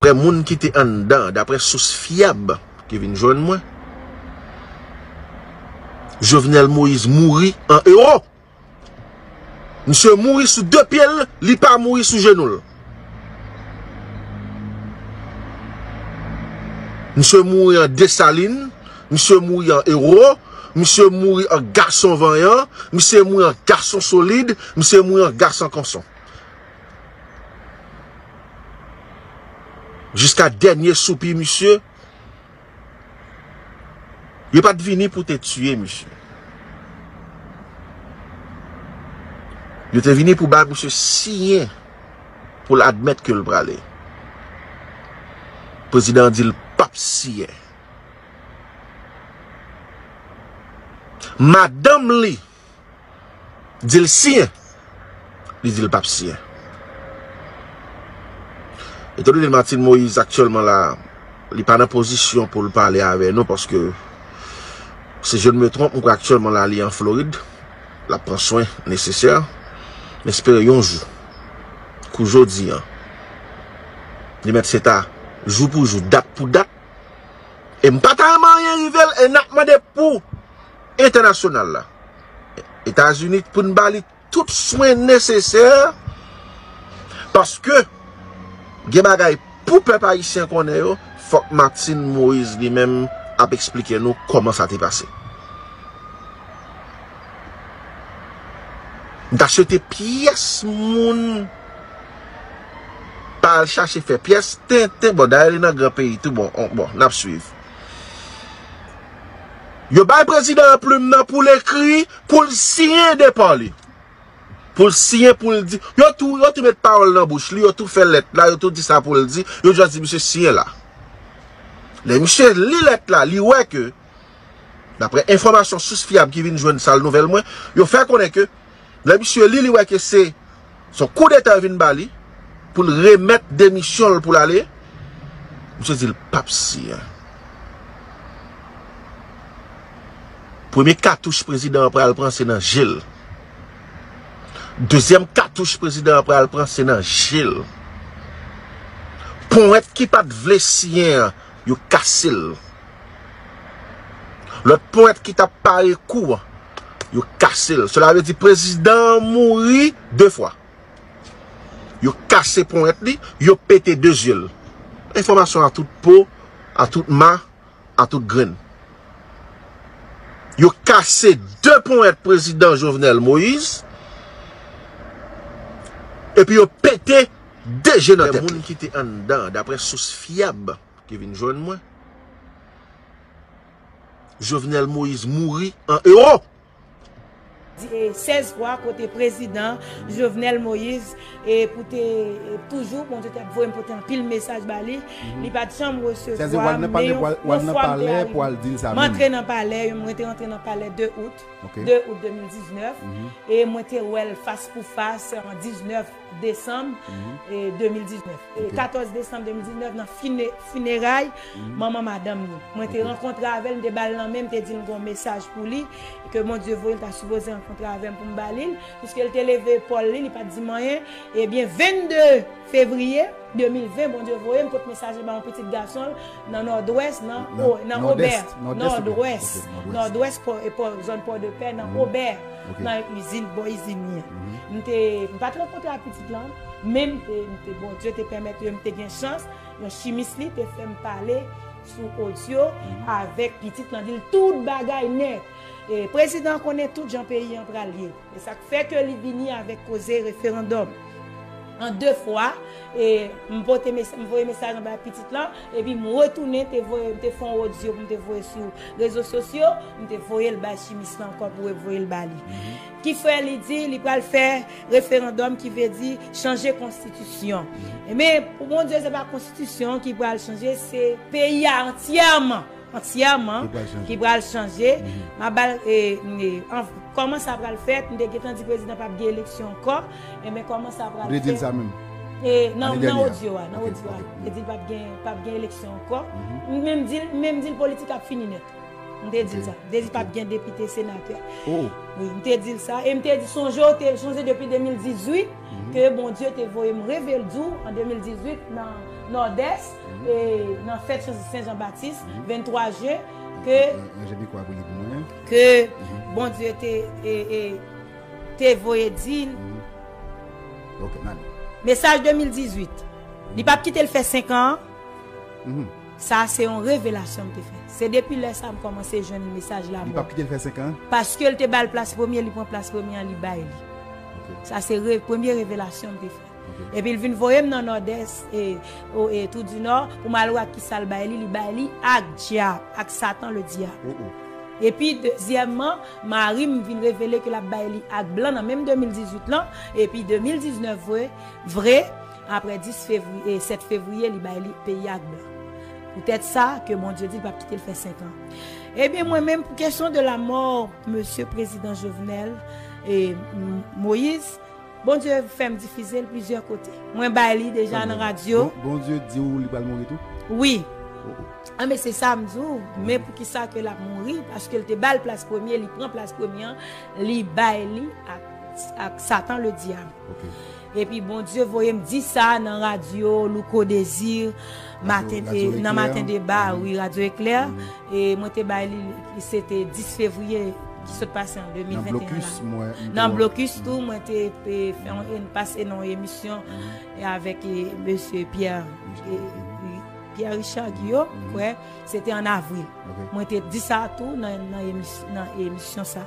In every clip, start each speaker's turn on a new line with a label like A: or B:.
A: Daprè moun ki te anndan, daprè sous fyab ki vin jwenn mwen, Jovenel Moïse mouri an Ewòp. Misye mouri sou 2 pye l, li pa mouri sou jenou l. Misye mouri an Desalin, misye mouri an Ewo, misye mouri an gason vanyan, misye mouri an gason solid, misye mouri an gason konson. Jiska dènye soupi misye. Yo pat vini pou te tiye misye. Yo te vini pou bay misye siyen pou l admèt ke l prale. Prezidan an di l pap siyen. Madanm li Di l siyen. Li di l pap siyen. Etan done Martine Moïse aktyèlman la, li pa nan pozisyon pou l pale avè nou paske si je ne me trompe, mwen kwè aktyèlman la li an Florid. L ap pran swen nesesè. M espere yon jou kou jodi an li mèt se ta jou pou jou, dat pou dat. E m pa ta renmen anyen rive l e n ap mande pou entènasyonal la, Etazini pou n ba li tout swen nesesè paske gen bagay pou pèp ayisyen konnen yo, fòk Martine Moise li menm ap eksplike nou kòman sa te pase. M ta swete pyès moun pa al chache fè pyès tenten, bon dayè li nan gran peyi tou bon, bon n ap swiv. Yo bay prezidan an plim nan pou l ekri, pou l siyen de pa li. Pou l siyen, pou l di. Yo tou, yo tou met pawòl nan bouch li, yo tou fè lèt la, yo tou di sa pou l di, yo jis di misye siyen la. Lè misye li lèt la, li wè ke, daprè enfòmasyon sous fyab ki vin jwenn sal nouvèl mwen, yo fè konnen ke Lè misye li, li wè ke se son kou deta yo vin ba li pou l remèt demisyon l pou l ale, misye di l pap siyen. Premye katouch prezidan an pral pran se nan je l. Dezyèm katouch prezidan an pral pran se nan je l. Ponwèt ki pat vle siyen an, yo kase l. Lòt pwent ki tap pare kou an, yo kase l. Sela vle di prezidan an mouri 2 fwa. Yo kase pwent li, yo pete 2 zye l. Enfòmasyon a tout po, a tout ma, a tout grenn. Yo kase 2 pwent prezidan Jovenel Moïse, epi yo pete 2 je nan tèt li. Dapre moun ki te anndan, dapre sous fyab. ki vin jwenn mwen. Jovenel Moïse mouri an ewo. 16
B: fwa kote prezidan Jovenel Moïse pou te toujou bon Dieu te ap voyem pote anpil mesaj ba li li pat janm resevwa m men yon fwa m te arive m antre nan palè mwen te antre nan palè 2 out 2 out 2019 e mwen te wèl fas pou fas 19. Desanm 2019. 14 desanm 2019 nan fineray manman madanm li. Mwen te rankontre avè l, m te ba l nan men, m te di l m gen yon mesaj pou li ke Bondye voye, l ta sipoze rankontre avè m pou m ba li l. Piske l te leve epòl li, li pa t di m anyen. Ebyen 22 fevriye 2020 Bondye voye m pot mesaj li ba yon pitit gason l nan Nòdwès nan Obè. Nòdwès, Nòdwès. Nòdwès, Nòdwès, zòn Pòdepè nan Obè. Nan yon izin, bò izin li an. M te, m pa t rankontre ak pitit lan, men m te, m te, Bondye te pèmèt ke m te gen chans, yon chimis li te fè m pale sou odyo avèk pitit lan, di l tout bagay nèt. E prezidan an konnen tout jan peyi an pral ye. E sa k fè ke li vini avèk koze referandòm. an 2 fwa e m pote mesaj m voye mesaj lan bay pitit lan epi m retounen te voye m te fè yon odyo pou m te voye sou rezo sosyo m te voye l bay chimis lan ankò pou l voye l ba li ki fè li di li pral fè referandòm ki vle di chanje konstitisyon men pou Bondye se pa konstitisyon ki pral chanje se peyi a antyèman. Antyèman ki pral chanje map bal kòman sa pral fèt m te gentan di prezidan pap gen eleksyon ankò enben kòman sa pral fèt nan odyo a nan odyo a li di pap gen pap gen eleksyon ankò m menm di l m menm di l politik ap fini nèt m te di l sa m te di l pap gen depite senatè wi m te di l sa e m te di sonje w te sonje depi 2018 ke Bondye te voye m reve l di w an 2018 nan nòdès Nan fèt Jezi Sen Jan Batis, 23 jen, ke. Nan je pikwa pou li pou mwen. Ke Bondye te, te voye di l. Ok, nan. Mesaj 2018. Li pa p kite l fè senkan an. Sa a se yon revelasyon m te fè. Se depi lè sa a m kòmanse jwenn mesaj lanmò. Li pa p kite l fè senkan an.
A: Paske l te ba l plas
B: premye, li pran plas premye an, li bay li. Sa se premye revelasyon m te fè. Epi l vin voye m nan Nòdès, e, o, e, Twou di Nò, pou m al wè ak ki sa l bay li, li bay li ak dyab, ak Satan le dyab. O, o. Epi, dezyèmman, mari m vin revele ke l ap bay li ak blan nan menm 2018 lan, epi 2019 vre, vre, apre 10 fevri, e, 7 fevriye li bay li peyi a ak blan. Poutèt sa, ke Bondye di l p ap kite l fè senkan. Ebyen, mwen menm, pou kesyon de lamò Mesye Prezidan Jovenel, e, Moïse, Bondye fèm difizel plizyè kote. Mwen bay li deja nan radyo. Bondye diw li
A: pral mouri tou? Wi.
B: An men se sam di w, men poukisa ke lap mouri, paskel te bal plas premye, li pran plas premye an, li bay li ak satan le dyab. Epi Bondye voyem di sa nan radyo Louko Desir. Maten te nan maten deba wi radyo eklè e mwen te bay li se te 10 fevriye ki sot pase an 2021 la nan blokis tou mwen te pase nan emisyon e avek e mesye Pierre Pierre Richard yo kwe se te an avril mwen te di sa tou nan emisyon sa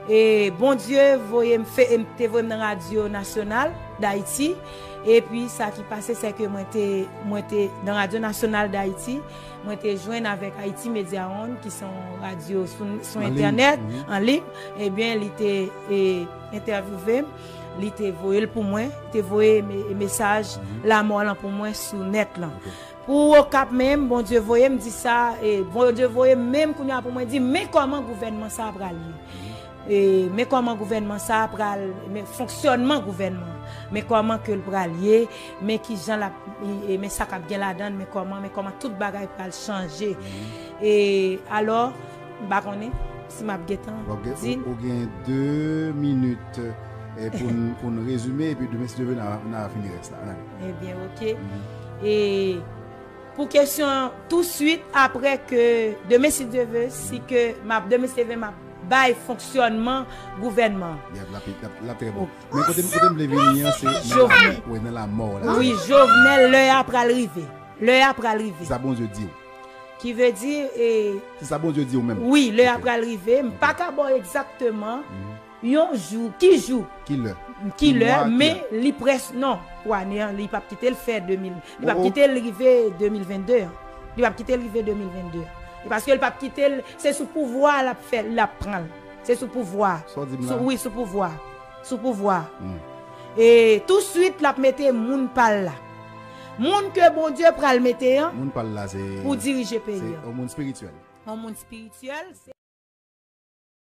B: e bon Dieu voye m fe e m te voye m nan radyo nasyonal dayiti Epi sa ki pase se ke mwen te, mwen te nan radyo nasyonal Dayiti, mwen te jwenn avèk Haïti Media One ki se yon radyo sou entènèt, an lib, ebyen li te entèvyouve m, li te voye l pou mwen, li te voye mesaj lamò lan pou mwen sou nèt lan. Pou Okap menm, Bondye voye m di sa, Bondye voye m menm kounye a pou mwen di men kòman gouvènman sa a pral ye. Men kòman gouvènman sa a pral, men fonksyònman gouvènman an, men kòman ke l pral ye, men ki jan l ap, men sa k ap gen ladan l, men kòman, men kòman tout bagay pral chanje. E alò, m pa konnen si m ap gen tan di l. Ou gen
A: de minit pou n rezime, epi demen si Dye vle n a fini rès la. Ebyen, oke.
B: E. Pou kesyon an tou swit apre ke demen si Dye ve si ke map demen si Dye ve map bay fonksyònman gouvènman. Yap lap lap
A: trè bon. Men kotem kotem vle vini an se nan lamò wi nan lamò w la. Wi Jovenel
B: lè a pral rive lè a pral rive. Se sa Bondye di w.
A: Ki ve di
B: e. Se sa Bondye
A: di w menm. Wi lè a pral rive
B: m paka ba w egzakteman. Yon jou, ki jou? Ki lè? Ki lè, men li prèske, non, pou ane an, li pap kite l fè 2000, li pap kite l rive 2022 an. Li pap kite l rive 2022 an. E paske l pap kite l, se sou pouvwa a l ap fè, l ap pran l. Se sou pouvwa a. Sa w di m la? Sou, wi, sou pouvwa a. Sou pouvwa a. E tousuit l ap mete moun pa l la. Moun ke Bondye pral mete an. Moun
A: pa l la se.
B: Pou
A: dirije peyi
B: an. Se yon moun
A: espirityèl. Yon
B: moun espirityèl,
A: se.